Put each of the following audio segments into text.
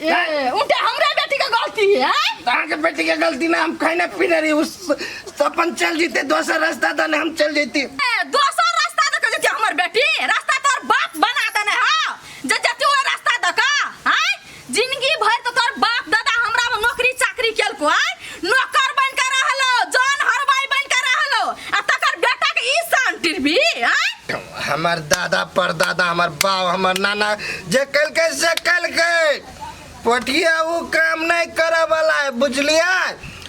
ए, उल्टा हमरा बेटी के गलती है आय? तार के बेटी के गलती ना हम खाना पीना रही उस तो अपन चल जीते दोसर रास्ता दने हम चल जीती ए, दोसर रास्ता दे के जेती हमर बेटी रास्ता तोर बाप बना देने हा जे जेती ओ रास्ता दे का आय जिंदगी भर तो तोर बाप दादा हमरा में नौकरी चाकरी केलको आय नौकर बन के रहलो जान हरवाई बन के रहलो आ तकर बेटा के ई शान टिरबी आय हमार दादा परदादा हमार बाप हमार नाना जे कलकै से कलकै पटिया ऊ काम नहीं करे वाला है बुझलिया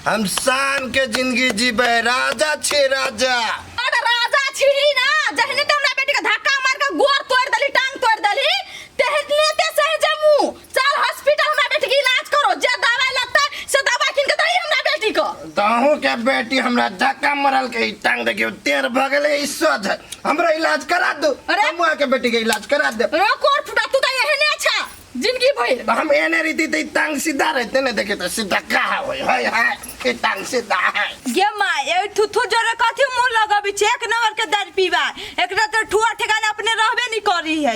हम शान के जिंदगी जीबे राजा छी राजा अरे राजा छिड़ी ना जहने तो हमरा बेटी के धक्का मार के गोर तोड़ देली टांग तोड़ देली तेहने ते सह जमू चल हॉस्पिटल हमरा बेटी के इलाज करो जे दवाई लगता से दवाई किन के दही हमरा बेटी को तहू के बेटी हमरा धक्का मरल के ई टांग देखियो टेर भ गेले ई सोध हमरा इलाज करा दो अरे! हमवा के बेटी के इलाज करा दे रो कोर फुटा तू त एहने अच्छा जिंदगी भइल तो हम एने रीति ते ई टांग सीधा रहते ने देखे तो सीधा का होय हाय हाय ई टांग सीधा है गे माँ ए थुथु जोरे कथी मुंह लगबी छे एक नंबर के दारू पीबा एकरा तो ठुआ ठेकाना अपने रहबे नहीं करी है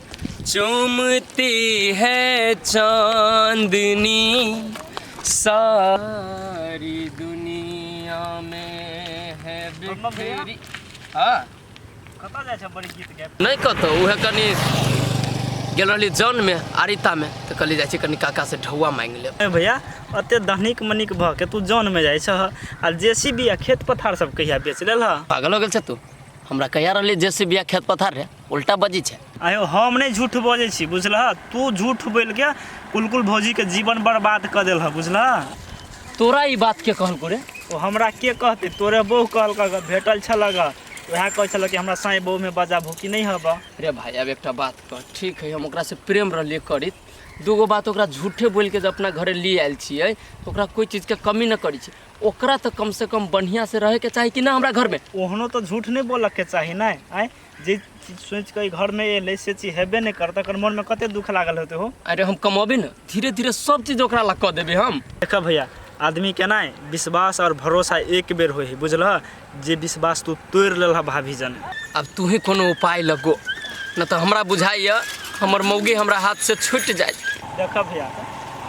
चूमती है चांदनी सारी दुनिया में है बिखरी हाँ कतऽ जाइ छै बड़ी गीत गाबि नहीं कतो उहे कनी गेल रहली जौन में आरिता में तो कहली जाइ छी कनी काका से ढौआ मांगि लेब ए भैया अते धनिक मनिक भऽ के तू जौन मे जाइ छह आ जेसीबी आ खेत पथार सब कहिया बेच लेलह पागल हो गेल छै तू हमरा कहिया रहली जेसीबी आ खेत पथार रे उल्टा बजी छै आयो हम नहीं झूठ बजे छी बुझलह तू झूठ बोल के कुलकुल भौजी के जीवन बर्बाद कर दिल बुझलह तोरा ई बात के कहल रे ओ हमरा के कहते तोरे बहू कहल भेटल छल वह कह छल कि हमरा साई बहू में बजा भूखी नहीं हब रे भाई अब एक बात कह ठीक है हम से प्रेम रही करित दूगो बात ओकरा झूठे बोल के अपना घरे ले आयल छे तो ओकरा कोई चीज के कमी न करी छे ओकरा तो कम से कम बढ़िया से रहे के चाहिए कि ना हमरा घर में ओहनो तो झूठ नहीं बोलक के चाहिए ना आए जे चीज सोचि कऽ ई घर में एलै से चीज हेबे नहि करतै एकर मन में कते दुख लागल होते हो अरे हम कमौबे ने धीरे धीरे सब चीज ओकरा ला कऽ देबै हम देखा भैया आदमी के ना विश्वास और भरोसा एक बेर हो है बुझलह जे विश्वास तू तोड़ लेलह भाभी जन अब तू ही कोनो उपाय लगो न तो हमरा बुझाइए हमर मौगी हमरा हाथ से छूट जाए देखा भैया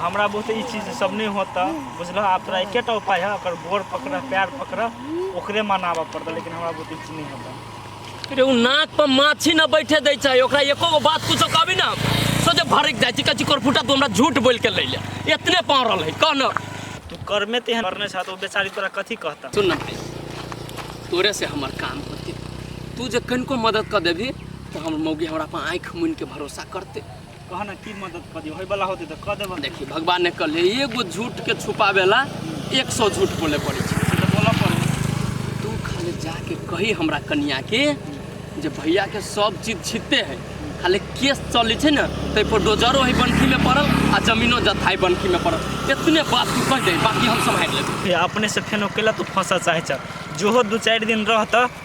हमरा बहुत ई चीज सब नहीं होता बुझलह आप तोरा एकेटा उपाय है अगर गोर पकड़ पैर पकड़ ओकरे मनाबऽ पड़ता लेकिन हमरा बहुत ई चीज नहीं होता अरे उ नाक पर माछी न बैठे दै छै ओकरा एको गो बात कुछो कहबी ना सोचे भड़क जाइ छै कची कोरफुटा तू हमरा झूठ बोल के लैले इतने पाँव रहल है कह न तू कर्मे तेहन करने छह तो ओ बेचारी तोरा कथी कहता सुन ना भाई तोरे से हमर काम होते तू जे कनिको मदद कर देबी तो हमर मौगी हमरा पर आँखि मुनि के भरोसा करते कह ना की मदद कर दियो होय वाला होते तो कह देबो देखिए भगवान ने कहले एगो झूठ के छुपावे ला एक सौ झूठ बोले पड़े छै से तो बोला पड़े तू खाली जाके कही हमरा कनिया के जे भैया के सब चीज छिते है खाली केस चलै छै ने ताहि पर डोजरो है बनकी में पड़ल आ जमीनो जथाई बनकी में पड़ल इतने बात तू कह दे बाकी हम सम्हारि लेबै ये अपने से फेन अकेला तू फंसा चाहे छ जो दू चार दिन रहता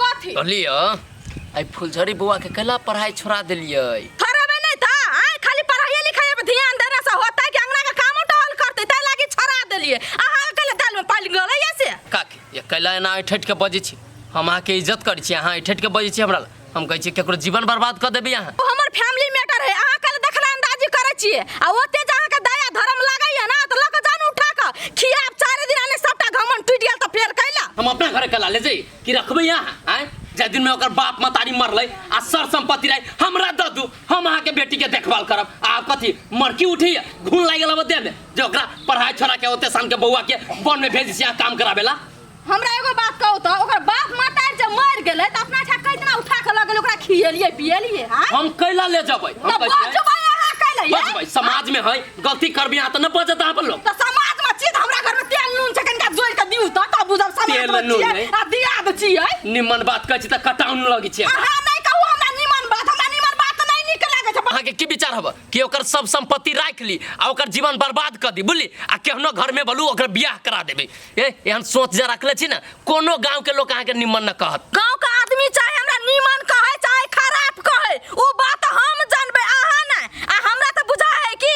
कथी कहलिए आई फुलझड़ी बुआ के कला पढ़ाई छोड़ा दिलिए थरबे नहीं था आए खाली पढ़ाई लिखाई पे ध्यान देने से होता है कि अंगना का काम टहल करते तै लागी छोड़ा देलिए आहा कल दाल में पाल गले या से काकी ये कला एना ऐठट के बजे छी हम अहाँ के इज्जत करै छी अहाँ ऐठट के बजे छी हमरा ला। हम कहै छी केकरो जीवन बर्बाद कर देबी अहाँ ओ हमर फैमिली मैटर है आहा कल देखला अंदाजी करे छिए आ ओते जे आहा के दया धर्म लागै है ना तो लक जान उठा के खिया आब चारे दिन आने सबटा घमन टूट गेल त फेर कैला हम अपना घर कला ले जाई कि रखबै यहाँ आय जे दिन में ओकर बाप मतारी मरलै आ सर संपत्ति रहे हमरा द दू हम अहाँ के बेटी के देखभाल करब आ आप कथी मरकी उठी घून लाग गेल देह में जे ओकरा पढ़ाई छोड़ा के ओते सान के बौआ के बन में भेज सिया काम कराबेला हमरा एगो बात कहू तऽ ओकर बाप मातार जे मर गेलै तऽ अपना छा कैतना उठा के लगल ओकरा खियेलिए पियेलिए हां हम कैला ले जबै हम तऽ कैसे बजबै अहाँ कैले बजबै समाज में है गलती करबी आ त न बजत आप लोग तऽ समाज में छी तऽ हमरा घर में तेल नून छै कनिका जोड़ के दिउ तऽ तब बुझब समाज तेल में नून छियै नहि। आ दिया दे छियै निमन बात कहै छी त कटाउन लगी छै अहाँ नहि कहू हमरा निमन बात हमरा निमन बात नहि नीक लागै छै अहाँके की विचार हब कि ओकर सब संपत्ति राख ली आ ओकर जीवन बर्बाद कर दी बुझली आ केहनो घर में बोलू ओकर बियाह करा देबे ए एहन सोच जे रखले छी ने कोनो गांव के लोग अहाँ के निमन न कहत गांव का आदमी चाहे हमरा नीमन कहे चाहे खराब कहे उ बात हम जानबे अहा ना आ हमरा त बुझा है कि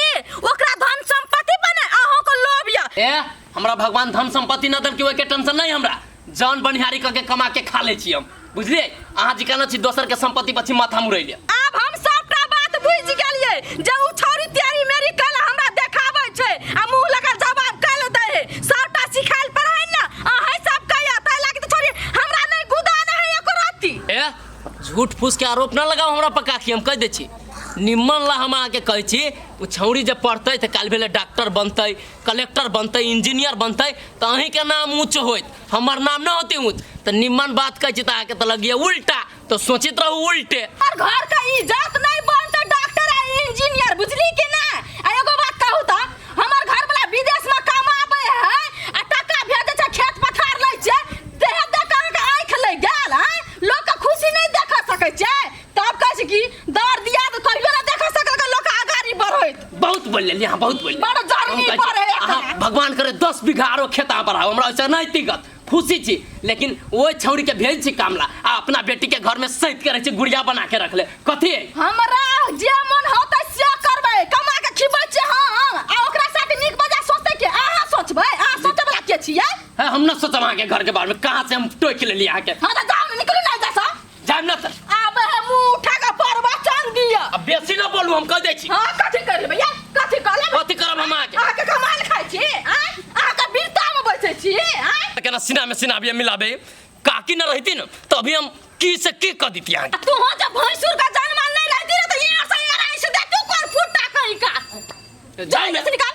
ओकरा धन संपत्ति बने अहो को लोभ या ए हमरा भगवान धन संपत्ति न दल कि ओके टेंशन नहीं हमरा जान बनिहारी क के कमा के खा ले छी हम बुझलिए अहाँ जी कहना छी दोसर के संपत्ति पछी माथा मुरैले अब हम सबटा बात बुझि गेलिए जे उ छोरी तेरी मेरी कल हमरा देखाबै छै आ मुंह लगा जवाब कल दै है सबटा सिखाइल पढ़ाइल ना अहै सब कहया तै लाग त छोरी हमरा नै गुदा नै है एको रत्ती ए झूठ फूस के आरोप ना लगाओ हमरा पर काकी हम कह दे छी निम्मन ला हम अहाँके कहै छी ओ छौरी जे पढ़तै तऽ काल्हि भेलै डॉक्टर बनतै कलेक्टर बनतै इंजीनियर बनतै तऽ अहींके नाम ऊँच होइत हमर नाम ना होते हूँ तो निम्मन बात कह छी तो आके तो लगिए उल्टा तो सोचित रहू उल्टे और घर का इज्जत नहीं बनते डॉक्टर आ इंजीनियर बुझली कि ना आ एगो बात कहू त हमर घर वाला विदेश में कमाबे है आ टका भेजे छै खेत पथार लै छै देह देख अहाँ के आंख लै गेल है लोग के खुशी नहीं देख सकै छै तब कहै छी कि दर दिया तऽ कहियो ना देख सकल के लोक आगारी बढ़ैत बहुत बोल लेलिए अहाँ बहुत बोल लेलिए। बड़ा जरूरी हम कहै छी, पड़ै एकरा। अहाँ भगवान करे दस बीघा आरो खेत अहाँ बढ़ाओ हमरा ओहिसँ नहि दिक्कत खुशी छी लेकिन ओहि छौड़ी के भेज छी कामला आ अपना बेटी के घर में सैत करे छी गुड़िया बना के रखले कथी है? हमरा जे मन होतै से करबै कमा के खिबै छी हम आ ओकरा साथ नीक बजा सोचतै के अहाँ सोचबै अहाँ सोचै बला के छियै है हम न सोचब अहाँके घर के बारे में कहाँ से हम टोकि लेलिए अहाँके हाँ तऽ जाउ ने निकलू ना एतऽ सँ जाइम ना त आबे है मुंह उठा के प्रवचन दिया अब बेसी ना बोलू हम कह दै छी हां कथि कर लेबै या कथि कर लेबै कथी करब हम अहाँके अहाँ के कमाल खाइ छी आय अहाँ के बीरता में बैठे छी आय त केना सीना में सीना बिया मिलाबे काकी ना रहती न त अभी हम की से की कह देती अहाँके तू हो जब भैंसुर का जन्म नहीं रहती रे तो यार से यार ऐसे दे तू कर फुटा कहीं का जाइम जल्दी से निकाल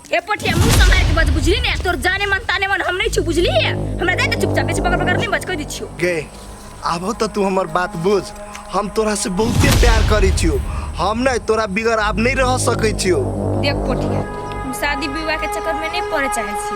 ए पोटिया मुंह से मार के बात बुझली ने तोर जाने मन ताने मन हम नहीं छु बुझली है हमरा दे दे चुपचाप बेच बगर बगर नहीं बच कह दी छियो गे आबो तो तू हमर बात बुझ हम तोरा से बहुते प्यार करी छियो हम नहीं तोरा बिगर आब नहीं रह सकै छियो देख पोटिया हम शादी विवाह के चक्कर में नहीं पड़े चाहे छी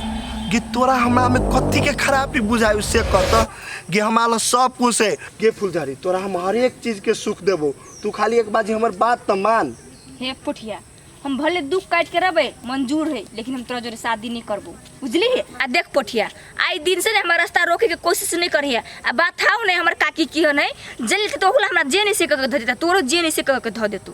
कि तोरा हमरा में कथी के खराबी बुझायु से कहता कि हमारा सब कुछ है गे फुलझड़ी तोरा हम हर एक चीज के सुख देबो तू खाली एक बाजी हमर बात त मान हे पुठिया हम भले दुख काट के रहबे मंजूर है लेकिन हम तोरा जोरे शादी नहीं करबो बुझली है आ देख पोठिया आई दिन से ने हमारा रास्ता रोके के कोशिश नहीं करी है आ बात हाउ नहीं हमार काकी की हो नहीं जल के तो होला हमरा जे नहीं से कह के धो देता तोरो जे नहीं से कह के धो देतू